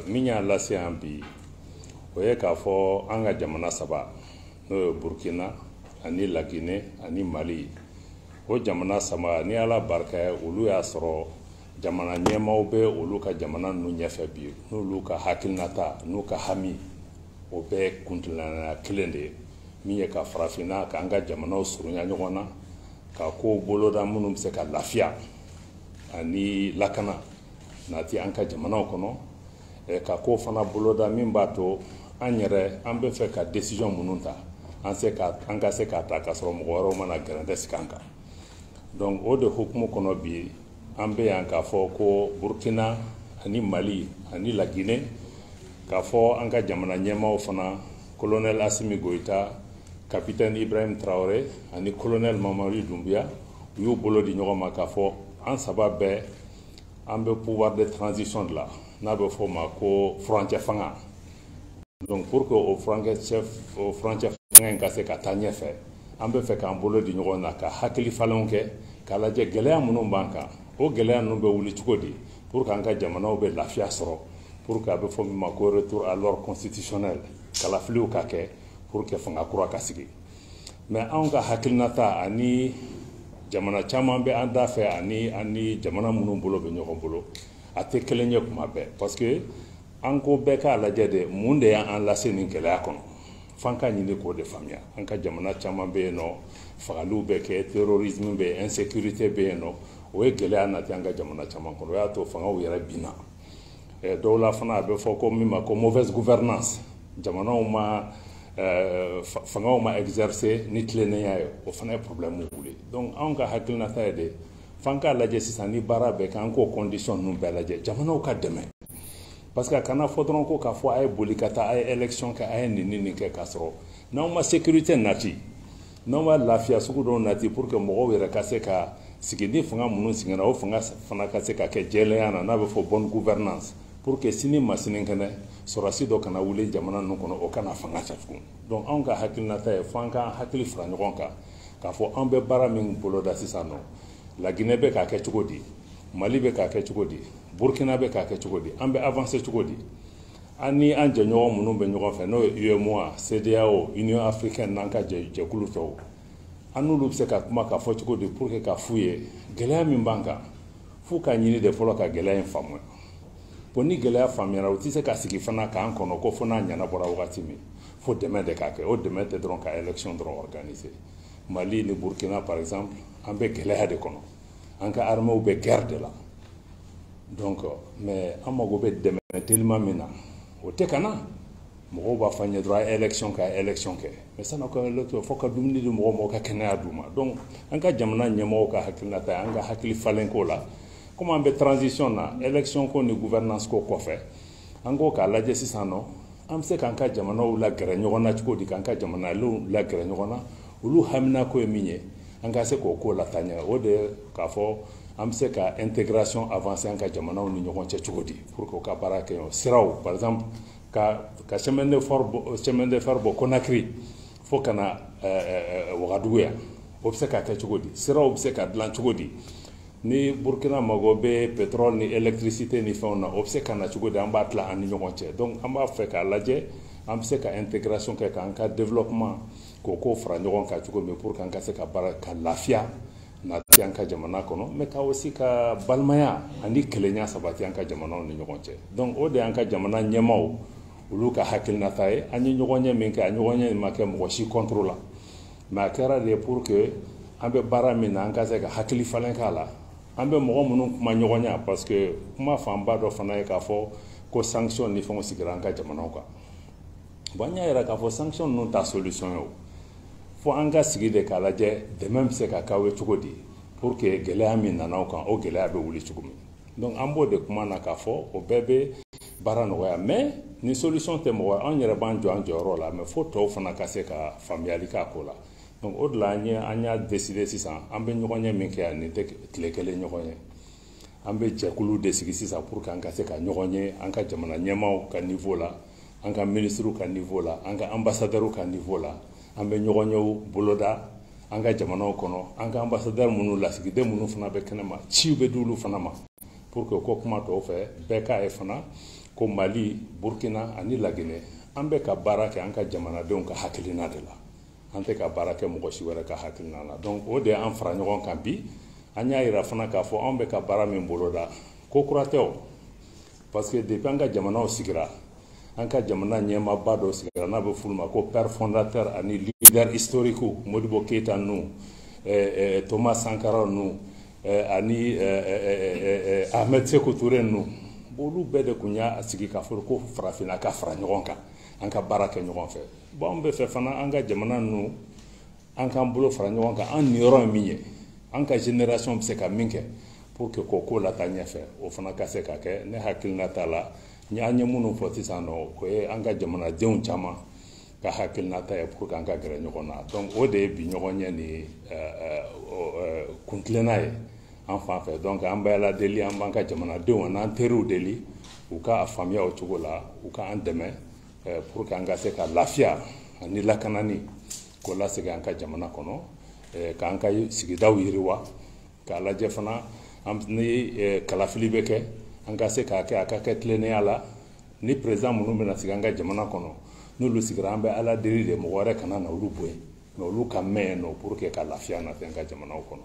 min y'a lase yan bi o ye k'a fɔ an ka jamana saba n'o ye burkina ani lagine ani mali o jamana saba ni ala barika ye olu y'a sɔrɔ jamana ɲɛmaaw bɛ olu ka jamana ninnu ɲɛfɛ bi n'olu ka hakilinata n'u ka hami o bɛɛ kuntilenna ye kelen de ye min ye ka farafinna k'an ka jamanaw surunya ɲɔgɔn na ka kow boloda minnu bɛ se ka lafiya ani lakana nati an ka jamanaw kɔnɔ eh, ka ko fana boloda min b'a to an yɛrɛ an bɛ fɛ ka décision minnu ta an se ka an ka se k'a ta k'a sɔrɔ mɔgɔ wɛrɛw ma na gɛrɛntɛ sigi an kan donc o de hukumu kɔnɔ bi an bɛ yan k'a fɔ ko burkina ani mali ani lagine k'a fɔ an ka jamana ɲɛmaaw fana colonel assimi goïta capitaine ibrahim traoré ani colonel mamadi doumbouya u y'u bolo di ɲɔgɔn ma k'a fɔ an saba bɛɛ an bɛ pouvoir de transition de la n'a bɛ f'o ma ko furancɛ fanga donc pour que o furancɛ chef o furancɛ fanga in ka se ka taa ɲɛfɛ an bɛ fɛ k'an bolo di ɲɔgɔn na ka hakili falenw kɛ k'a lajɛ gɛlɛya minnu b'an kan o gɛlɛya ninnu bɛ wuli cogo di pour que an ka jamanaw bɛ lafiya sɔrɔ pour que a bɛ fɔ min ma ko retour à l'ordre constitutionnel kalafiliw ka kɛ pour que fanga kura ka sigi mais anw ka hakilinata ani jamana caman bɛ an da fɛ ani ani jamana minnu bolo bɛ ɲɔgɔn bolo a tɛ kelen ye kuma bɛɛ parce que an ko bɛɛ k'a lajɛ de mun de y'an lase nin gɛlɛya kɔnɔ f'an ka ɲini k'o de faamuya an ka jamana caman bɛ yen nɔ fagaliw bɛ kɛ terrorisme bɛ yen insécurité bɛ yen nɔ o ye gɛlɛya nati an ka jamana caman kɔnɔ o y'a to fangaw yɛrɛ binna eh, dɔw la fana a bɛ fɔ ko min ma ko mauvaise gouvernance jamanaw ma eh, fangaw ma exercer ni tilennenya ye o fana ye problème wuli donc anw ka hakilinata ye de f'an k'a lajɛ sisan ni baara bɛ kɛ an k'o condition ninnu bɛɛ lajɛ jamanaw ka dɛmɛ parce que a kana fɔ dɔrɔn ko k'a fɔ a ye boli ka taa a ye élection kɛ a ye nin ni nin kɛ k'a sɔrɔ n'aw ma sécurité nati n'anw ma lafiya sugu dɔw nati pour que mɔgɔw yɛrɛ ka se ka sigi ni fanga minnu sigira o fanga fana ka se ka kɛ jɛlenya na n'a bɛ fɔ bonne gouvernance pour que sini ma sininkɛnɛ sɔrɔdasi dɔ kana wuli jamana ninnu kɔnɔ o kana fanga cɛ tugun donc anw ka hakilinata ye fo an k'an hakili fara ɲɔgɔn kan k'a fɔ an bɛ baara min boloda sisan nɔ laginɛ bɛ k'a kɛ cogo di mali bɛ k'a kɛ cogo di burkina bɛ k'a kɛ cogo di an bɛ avancer cogo di an ni an jɛɲɔgɔn minnu bɛ ɲɔgɔn fɛ n'o ye UEMOA, CEDEAO, Union africaine n'an ka jɛkulu tɔw an n'olu bɛ se ka kuma k'a fɔ cogo di pour que ka f'u ye gɛlɛya min b'an kan f'u ka ɲini de fɔlɔ ka gɛlɛya in faamuya bon ni gɛlɛya faamuyara u tɛ se ka sigi fana k'an kɔnɔ ko fo n'a ɲɛnabɔra wagati min fo dɛmɛ de ka kɛ o dɛmɛ tɛ dɔrɔn ka élection dɔrɔn organiser Mali ni Burkina par exemple an bɛ gɛlɛya de kɔnɔ an ka armées bɛ guerre de la donc mais an mago bɛ dɛmɛ teliman min na o tɛ ka na mɔgɔw b'a fɔ an ye dɔrɔn a ye élection kɛ a ye élection kɛ mais san'aw ka élection fo ka dumuni di mɔgɔw ma aw ka kɛnɛya d'u ma donc an ka jamana ɲɛmɔgɔw ka hakilinata ye an ka hakili falen ko la komi an bɛ transition na élection ko ni gouvernance ko kɔfɛ an ko k'a lajɛ sisan nɔ an bɛ se k'an ka jamanaw lagɛrɛ ɲɔgɔn na cogo di k'an ka jamanadenw lagɛrɛ ɲɔgɔn na olu haminako ye min ye an ka se k'o ko lataa ɲɛ o de ye k'a fɔ an bɛ se ka intégration avancer an ka jamanaw ni ɲɔgɔn cɛ cogo di pour que u ka baara kɛ ɲɔgɔn siraw par exemple ka chemin de fer bɔ Conakry fo ka na wagadugu yan o bɛ se ka kɛ cogo di siraw bɛ se ka dilan cogo di ni burukina mago bɛ pétrole ni électricité ni fɛnw na o bɛ se ka na cogo di an b'a tila an ni ɲɔgɔn cɛ donc an b'a fɛ k'a lajɛ an bɛ se ka intégration kɛ k'an ka développement k'o ko fara ɲɔgɔn kan cogo min pour que an ka se ka baara ka lafiya nati an ka jamana kɔnɔ mais ka aussi ka balimaya ani kelenya sabati an ka jamanaw ni ɲɔgɔn cɛ donc o de y'an ka jamana ɲɛmaaw olu ka hakilinata ye an ye ɲɔgɔnye min kɛ a ɲɔgɔnye ma kɛ mɔgɔ si contre la mais a kɛra de pour que an bɛ baara min na an ka se ka hakili falen k'a la an bɛ mɔgɔ minnu kumaɲɔgɔnya parce que kuma fanba dɔ fana ye k'a fɔ ko sanction ni fɛnw sigira an ka jamanaw kan bon an y'a yira k'a fɔ sanction ninnu tɛ solution ye o fo an ka sigi de k'a lajɛ dɛmɛ bɛ se ka k'aw ye cogo di pour que gɛlɛya min nana aw kan o gɛlɛya bɛ wuli cogo min donc an b'o de kuma na k'a fɔ o bɛɛ bɛ baara nɔgɔya mais ni solution tɛ mɔgɔ an yɛrɛ b'an jɔ an jɔyɔrɔ la mais fo tɔw fana ka se ka faamuyali k'a ko la donc o de la an ye an y'a décider sisan an bɛ ɲɔgɔnye min kɛ yan nin tɛ tile kelen ɲɔgɔnye an bɛ jɛkulu de sigi sisan pour que an ka se ka ɲɔgɔn ye an ka jamana ɲɛmaaw ka niveau la an ka minisiriw ka nivo la an ka anbasadɛriw ka nivo la an bɛ ɲɔgɔnyew boloda an ka jamanaw kɔnɔ an ka anbasadɛri minnu lasigiden minnu fana bɛ kɛnɛma ciw bɛ di olu fana ma pour que ko kuma tɔw fɛ bɛɛ k'a ye fana ko mali burkina ani laginɛ an bɛ ka baara kɛ an ka jamanadenw ka hakilina de la an tɛ ka baara kɛ mɔgɔ si wɛrɛ ka hakilina la donc o de y'an fara ɲɔgɔn kan bi an y'a yira fana k'a fɔ anw bɛ ka baara min boloda ko kura tɛ o parce que depuis an ka jamanaw sigira an ka jamana ɲɛmaaba dɔw sigira n'a bɛ f'olu ma ko père fondateur ani leader historique modibo keyita ninnu eh, eh, thomas sankara ninnu eh, ani ahmed sekou toure ninnu olu bɛɛ de tun y'a sigi k'a fɔ ko farafinna ka fara ɲɔgɔn kan an ka baara kɛ ɲɔgɔn fɛ bon an bɛ fɛ fana an ka jamana ninnu an k'an bolo fara ɲɔgɔn kan an niyɔrɔ ye min ye an ka generation bɛ se ka min kɛ pour que k'o ko lataa ɲɛfɛ o fana ka se ka kɛ ne hakilinata la an ye minnu fɔ sisan nɔ o ye an ka jamanadenw caman ka hakilinata ye pour que an ka gɛrɛ ɲɔgɔn na donc o de ye bi ɲɔgɔnye nin kuntilenna ye an fan fɛ donc an bɛ ala deli an b'an ka jamanadenw an'an teriw deli u ka a faamuya o cogo la u ka an dɛmɛ pour que an ka se ka lafiya ani lakanani K'o lasegin an ka jamana kɔnɔ eh, k'an ka sigidaw yiriwa k'a lajɛ fana ni eh, kalafili bɛ kɛ an ka se k'a kɛ a ka kɛ tilennenya la ni président minnu bɛna sigi an ka jamana kɔnɔ n'olu sigira an bɛ ala deli de mɔgɔ wɛrɛ kana na olu bɔ yen mais olu ka mɛn yen nɔ pour que ka lafiya nati an ka jamanaw kɔnɔ